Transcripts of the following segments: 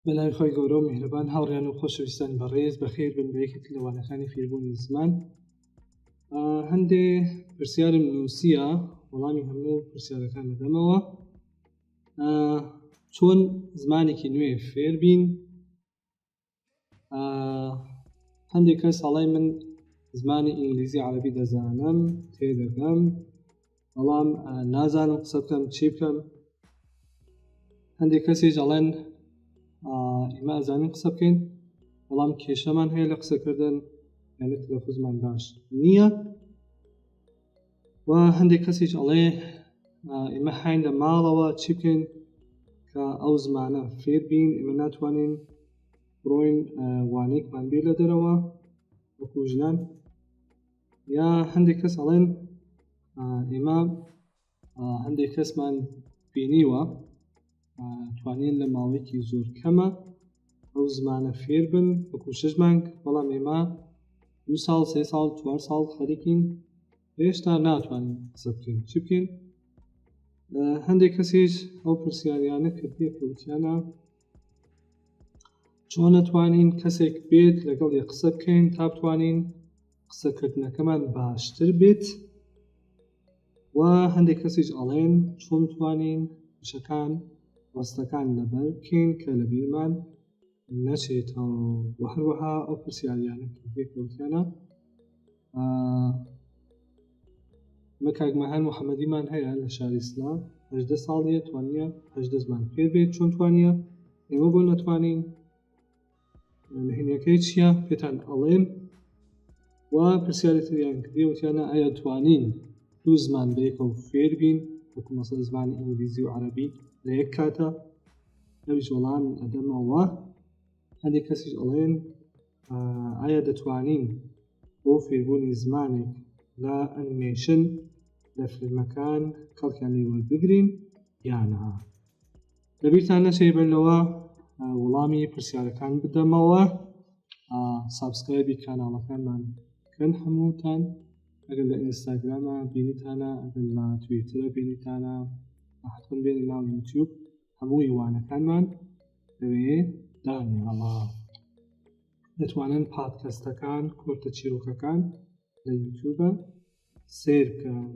بەناوی خۆی گەورە و میهرەبان هاوڕیان و خۆشەویستان بەڕێز بەخێر بن بەیەکێک لە وانەکانی فێربوونی زمان هەندێ پرسیارم نووسە وەڵامی هەموو پرسیارەکان دەدەمەوە چۆن زمانێکی نوێ فێر بین هەندێک کەس هەڵی من زمانی ئینگلیزی عربی دەزانم تێدەگەم بەڵام نازانم قسە بکەم چی بکەم هەندێک کەسیش ئەڵێن ئێمە ئەزانین قسە بکەین بەڵام کێشەمان هەیە لە قسەکردن یانە تەلەفزمان باش نییە و هەندێک کەسیش ئەڵێ ئێمە حین لە ماڵەوە چی بکەین کە ئەو زمانە فێر بین ئێمە ناتوانین بڕۆین وانێکمان بێ لە دەرەوە وەکو ژنان یا هەندێک کەس ئەڵێن ئێمە هەندێک کەسمان بینیوە توانین لە ماوەیەکی زۆر کەمە ئەو زمانە فێر بن وەکو شش مانگ بەڵام ئێمە دو ساڵ سێ ساڵ چوار ساڵ خەریکین هێشتا ناتوانین قسە بکەین چ بکەین هەندێک کەسیش ئەو پرسیاریانە کردیە کەوتیانە چۆن ئەتوانین کەسێک بێت لەگەڵی قسە بکەین تا بتوانین قسەکردنەکەمان باشتر بێت و هەندێک کەسیش ئەڵێن چۆن توانین شەکان ڕستەکان لەبەر بکەین کە لە بیرمان نەچێتەوە و هەروەها ئەو پرسیاریانە پێکەوتیانە بە کاک مەهەر محەممەدیمان هەیە لە شاری سلام هەدە ساڵیە توانە هەدە زمان پێ بێت چۆن توانە ئێمە بۆ نەتوانین نهێنیەکەی چییە پێتان ئەڵێن و پرسیارەتیان کردیوتیانە ئایا توانین دوو زمان بەیەکەوە فێر بین وەکو مەسە زمانی ئینگلیزی و عەربی لە یەک کاتە ئەویش وەڵام ئەدەمەوە هەندێک کەسیش ئەڵێن ئایا دەتوانین بۆ فێربوونی زمانێک لە ئەنیمەیشن لە فیلمەکان کەڵکیان لێ وەربگرین یانە لەبیرتان نەچێ بەر لەوە وڵامی پرسیارەکان بدەمەوە سابسکرایبی کاناڵەکانمان کەن هەمووتان ئەگەر لە ئینستاگرامە بینیتانە ئەگەر لە توێترە بینیتانە حتممە بێنە ناو یوتیوب هەمووی وانەکانمان لەوێ دانێڵە دەتوانن پادکەستەکان کۆرتە چیرۆکەکان لە یوتوبە سیر بکەن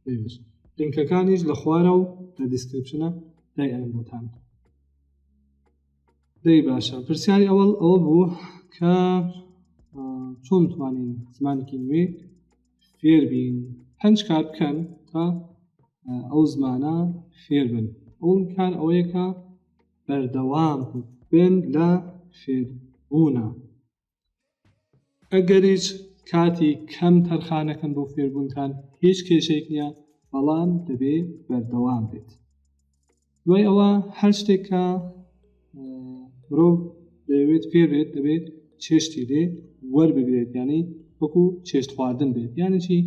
دەوێت لینکەکانیش لە خوارە و لە دیسکرپشنە دای ئەم بۆتان دەی باشە پرسیاری ئەوەڵ ئەوە بوو کە چۆن توانین زمانێکی نوێ فێربین پنج کار بکەن تا ئەو زمانە فێربن ئەوم کار ئەوەیەکە بەردەوام بن لە فێربوونە ئەگەریش کاتی کەم تەرخانەکەن بۆ فێربوونتان هیچ کێشێک نییە بەڵام دەبێ بەردەوام بێت دوای ئەوە هەر شتێک کە مرۆڤ دەیەوێت پێ بێت دەبێت چێشتی لێ وەربگرێت یعنی وەکو چێشت خواردن بێت یعنی چی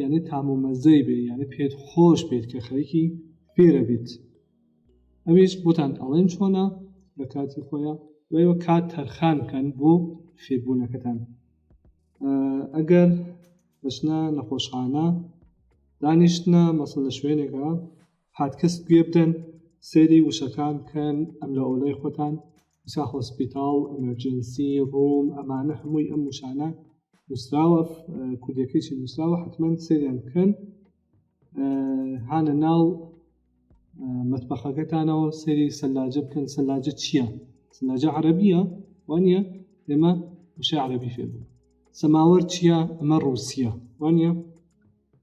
یعنی تام و مەزەی بێ یعنی پێت خۆش بێت کە خەریکی فێرە بیت ئەویش بۆتان ئەڵێن چۆنە لە کاتی خۆیە دوایوە کات تەرخان بکەن بۆ فێربوونەکەتان ئەگەر دەچنە نەخۆشخانە دانیشتنە مەسە لە شوێنێکە پادکست گوێ بدەن سەیری وشەکان بکەن ئەم لە ئۆلای خۆتان وسا هۆسپیتاڵ ئەمەرجنسی ڕووم ئەمانە هەمووی ئەم وشانە نووسراوە کوردەکەیی نووسراوە حتمما سەیریان بکەن هانە ناو مەتبەخەکەتانەوە سەری سەلاجە بکەن سەلاجە چییە سەلاجە عەربیە وانە ئێمە وشە عەربی فێبوو سەماوەەر چییە ئەمە ڕوسیە وانە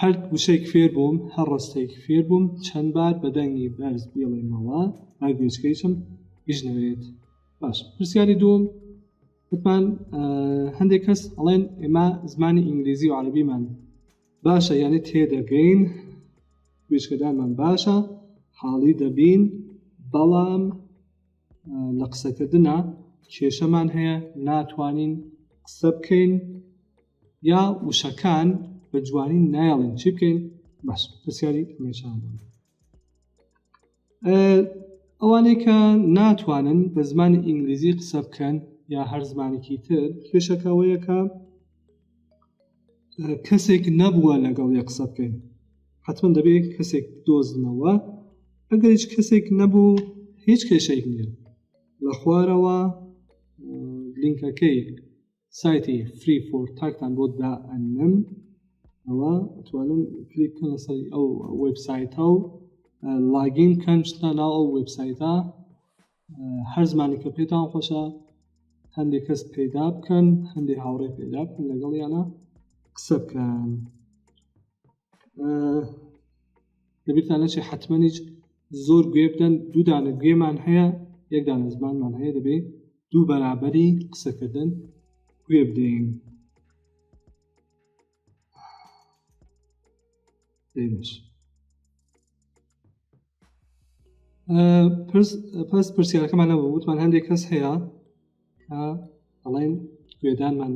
هەر وشەیک فێر بووم، هەر ڕستەیک فێر بووم، چەند بار بە دەنگی بەرز بیڵێمەوە با گوێچکەیشم ئیش نەوێت. باش پرسیاری دووم وتمان هەندێک کەس ئەڵێن ئێمە زمانی ئینگلیزی و عەربیمان باشە یانێ تێدەگەین گوێچکەدانمان باشە حاڵی دەبین بەڵام لە قسەکردنا کێشەمان هەیە ناتوانین قسە بکەین یا وشەکان بە جوانی نایڵین چی بکەین باش پرسیاری مێشان ئەوانەی کە ناتوانن بە زمانی ئینگلیزی قسە بکەن یا هەر زمانێکی تر کێشەکەەوەیەکە کەسێک نەبووە لەگەڵ یە قسە بکەین حتمما دەبێت کەسێک دۆزنەوە ئەگەر هیچ کەسێک نەبوو هیچ کێشێک نیە لە خوارەوە لینکەکەی سایتی فری فۆر تاکتان بۆ دا ئەنم ئەوە توانم کلیک کە لەسەر ئەو وبسایتە و لاگین کەن شتە ناو ئەو وبسایتە هەر زمانێکە پێتان خۆشە هەندێک کەس پەیدا بکەن هەندێک هاوڕێ پەیدا بکەن لەگەڵ یانە قسە بکەن دەبیرتان نەچێ حتممەنیج زۆر گوێ بدەن دوودانە گوێمان هەیە یەکدانە زمانمان هەیە دەبێت دوو بەرابەری قسەکردن گوێ بدەین پس پرسیارەکەمان نەبوو وتمان هەندێک کەس هەیە ئەڵێن گوێدانمان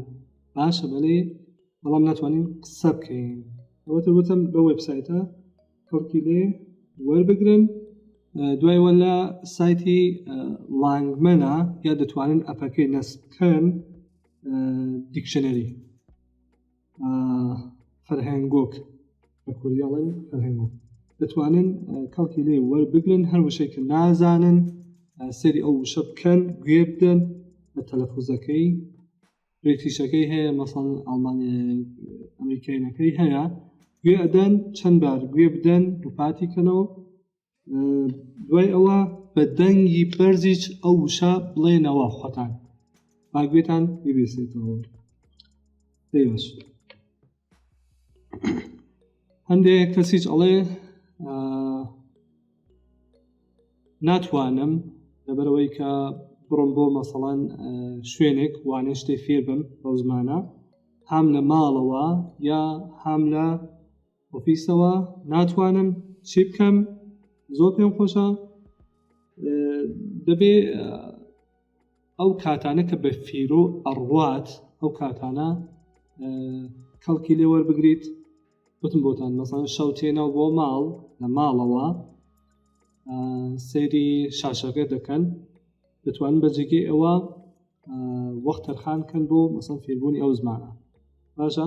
باشە بەێ بەڵام ناتوانین قسە بکەین ئەوەتە وتم بە وبسایتە کەڵکی لێ وەربگرن دوای وە لە سایتی لانگمەە یا دەتوانن ئەپەکەی نەس بکەن دیکشنەری فەرهەنگۆک بە کوریاڵن فەرهەنگۆک دەتوانن کەڵکی لێ وەربگرن هەر وشێکە نازانن سەری ئەو وشە بکەن گوێ بدەن بە تەلەفوزەکەی برێتیشەکەی هەیە مەسەڵ ئەڵمانی ئەمریکینەکەی هەیە گوێ ئەدەن چەند بار گوێ بدەن دووپاتی کەنەوە دوای ئەوە بە دەنگی بەرزیچ ئەو وشە بڵێنەوە خۆتان با گوێتان ببێسێتەوە دەیبش هەندێک کەسیچ ئەڵێ ناتوانم لەبەرەوەی کە بڕم بۆ مەسەڵەن شوێنێک وانێ شتێ فێر بم بەو زمانە هام لە ماڵەوە یا هام لە ئۆفیسەوە ناتوانم چی بکەم زۆر پێم خۆشە دەبێ ئەو کاتانە کە بە فیرۆ ئەڕوات ئەو کاتانە کەڵکی لێ وەربگریت وتم بۆتان مەسان شەو تێنا بۆ ماڵ لە ماڵەوە سەیری شاشەکە دەکەن دەتوان بە جێگەی ئەوە وەخت تەرخان کەن بۆ مەسەن فێربوونی ئەو زمانە باشە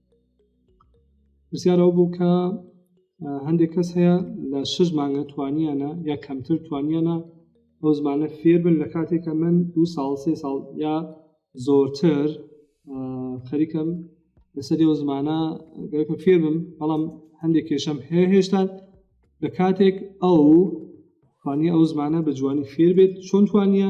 پرسیار ئەو بوو کە هەندێک کەس هەیە لە شش مانگە توانیانە یا کەمتر توانیانە ئەو زمانە فێربن لە کاتێکە من دو ساڵ سێ ساڵ یا زۆرتر خەریکم لەسەری ئەو زمانە گەرکم فێربم بەڵام هەندێک کێشەم هەیە هێشتا لە کاتێک ئەو توانی ئەو زمانە بە جوانی فێر بێت چۆن توانە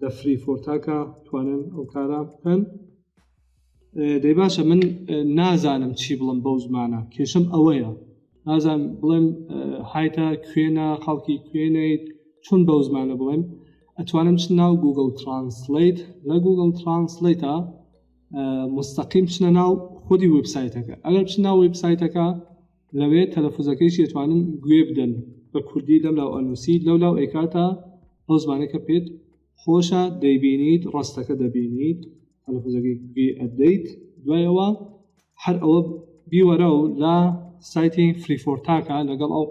لە فری فۆرتاکە توانن ئەو کارە بکەن دەی باشە من نازانم چی بڵم بەو زمانە کێشم ئەوەیە نازان بڵێم هایتا کوێنە خەڵکی کوێنیت چون بەو زمانە بڵێم ئەتوانم چ ناو گوگل ترانسلیت لە گوگل ترانسلیتە مستەقیم چنە ناو خودی وبسایتەکە ئەگەر چ ناو وبسایتەکە لەوێ تەلەفوزەکەیشی ئەتوانن گوێ بدەن بە کوردی لەم لاو ئەنووسی لەو لاو ئەیکاتە ئەو زمانە کە پێت خۆشە دەیبینیت ڕاستەکە دەبینیت تەلەفوزەکەی گوێ ئەدەیت دوای ئەوە هەر ئەوە بیوەرە و لە سایتی فریفۆرتاکە لەگەڵ ئەو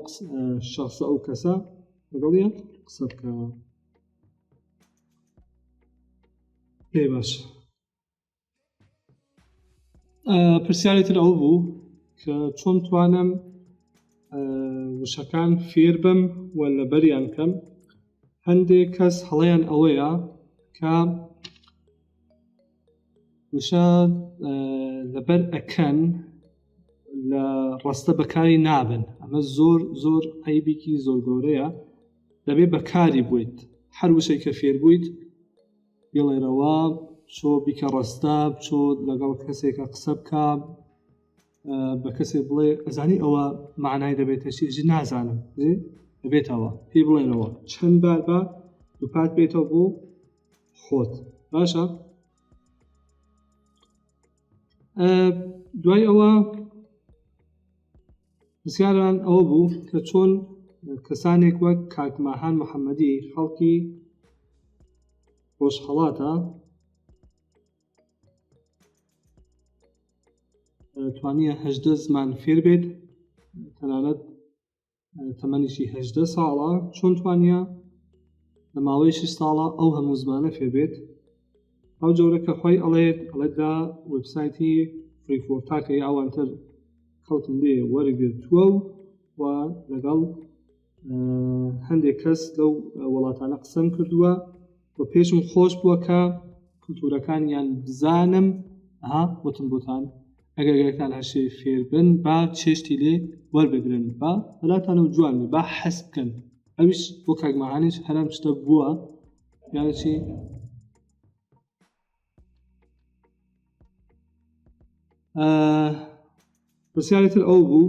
شخصە ئەو کەسە لەگەڵ یە قسە بکەوە پێ باش پرسیاری تر ئەو بوو کە چۆن توانم وشەکان فێر بم و لەبەریان کەم هەندێک کەس هەڵەیان ئەوەیە کە وشە لەبەر ئەکەن لە ڕستە بەکاری نابن ئەمە زۆر زۆر عیبێکی زۆر گەورەیە دەبێ بەکاری بوویت هەر وشەی کە فێر بوویت بیڵێرەوە چۆ بیکە ڕەستە چۆ لەگەڵ کەسێکە قسە بکە بە کەسێ بڵێ ئەزانی ئەوە معنای دەبێتە چێژ نازانم بێتەوە پێ بڵێنەوە چەند بار بە دووپات بێتەوە بۆ خۆت باشە دوای ئەوە پرسیاریان ئەوە بوو کە چۆن کەسانێک وەک کاک ماهان محەممەدی خەڵکی ڕۆژهڵاتە توانیە هەدە زمان فێر بێت تەنانەت تەمەنیشی هەدە ساڵە چۆن توانە لە ماوەی شش ساڵە ئەو هەموو زمانە فێبێت ئەو جۆرە کە خۆی ئەڵێت ئەڵێت دا وبسایتی فریفۆتاکە یاوانتر خەڵکم لێ وەرگرتووە و و لەگەڵ هەندێک کەس لەو وڵاتانە قسەم کردووە و پێشم خۆش بووە کە کللتورەکانیان بزانم ها وتم بۆتان ئەگەرگەرتان هەشێ فێربن با چێشتی لێ وەربگرن با بەلاتانە و جوان با حەس بکەن ئەویش بۆ کاگمەهانیش هەرم شتە بووە یعنی چی؟ پرسیاری تر ئەو بوو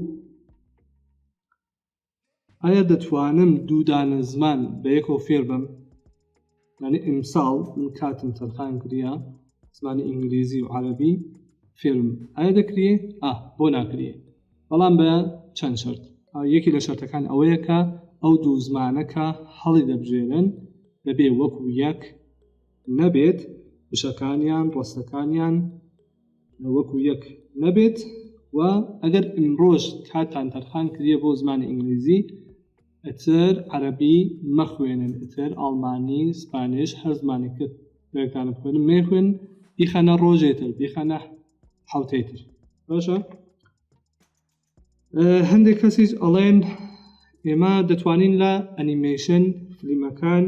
ئایا دەتوانم دوودانە زمان بە یەکەوە فێر بم یعنی ئیمساڵ من کاتم تەرخان کریا زمانی ئینگلیزی و عربی فێرم ئایا دەکرێ ئا بۆ ناکرێ بەڵام بە چەند شەرت یەکی لە شەرتەکان ئەوەیە کە ئەو دوو زمانە کە هەڵی دەبژێرن دەبێ وەکو یەک نەبێت وشەکانیان ڕستەکانیان وەکو یەک نەبێت و ئەگەر ئیمڕۆژ کاتان تەرخان کردە بۆ زمانی ئینگلیزی ئەتر عەربی مەخوێنن ئەتر ئاڵمانی سپانش هەر زمانێکتر لەکانە بخوێن مێخوێن بیخەنە ڕۆژێتر بیخەنە حوتەی تر باشە هەندێک کەسیش ئەڵێن ئێمە دەتوانین لە ئەنیمەیشن فلیمەکان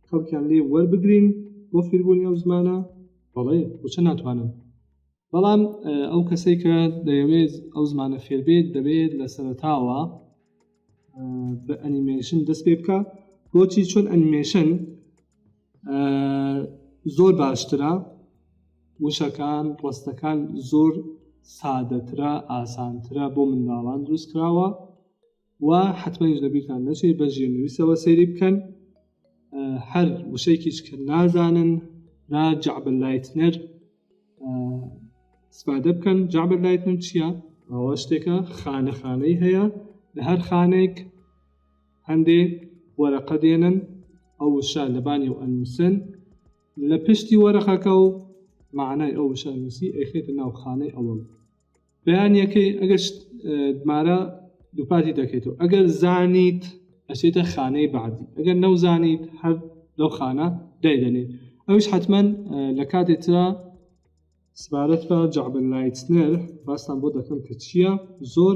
کەڵکیان لێ وەربگرین بۆ فیربوونی ئەو زمانە بەڵێ بچە ناتوانن بەڵام ئەو کەسێک کە دەیەوێت ئەو زمانە فێربێت دەبێت لە سەرتاوە بە ئەنیمەیشن دەست پێ بکە بۆچی چۆن ئەنیمەیشن زۆر باشترە وشەکان ڕستەکان زۆر سادەترە ئاسانترە بۆ منداڵان دروست کراوە و حتممەش لەبییران نەچێت بە ژێنویسەوە سەیری بکەن هەر وشەیەکیش کە نازانن نا جعبل لایتنەر سپادە بکەن جابر لایت من چییە ئەوە شتێکە خانە خانەی هەیە لە هەر خانێک هەندێ وەرەقە دێنن ئەو وشە لەبانی و ئەنووسن لە پشتی وەرەقەکە و معنای ئەو وشە نووسی ئەخێتە ناو خانەی ئەوەڵ بەیانیەکەی ئەگەر مارە دووپاتی دەکەیتەوە ئەگەر زانیت ئەسێتە خانەی بەعدی ئەگەر نەوزانیت هەر لەو خانە دایدەنێت ئەوش حتمما لە کاتێترا سبارەت بە جعبل لایتنەر باستان بۆ دەکەم کە چییە زۆر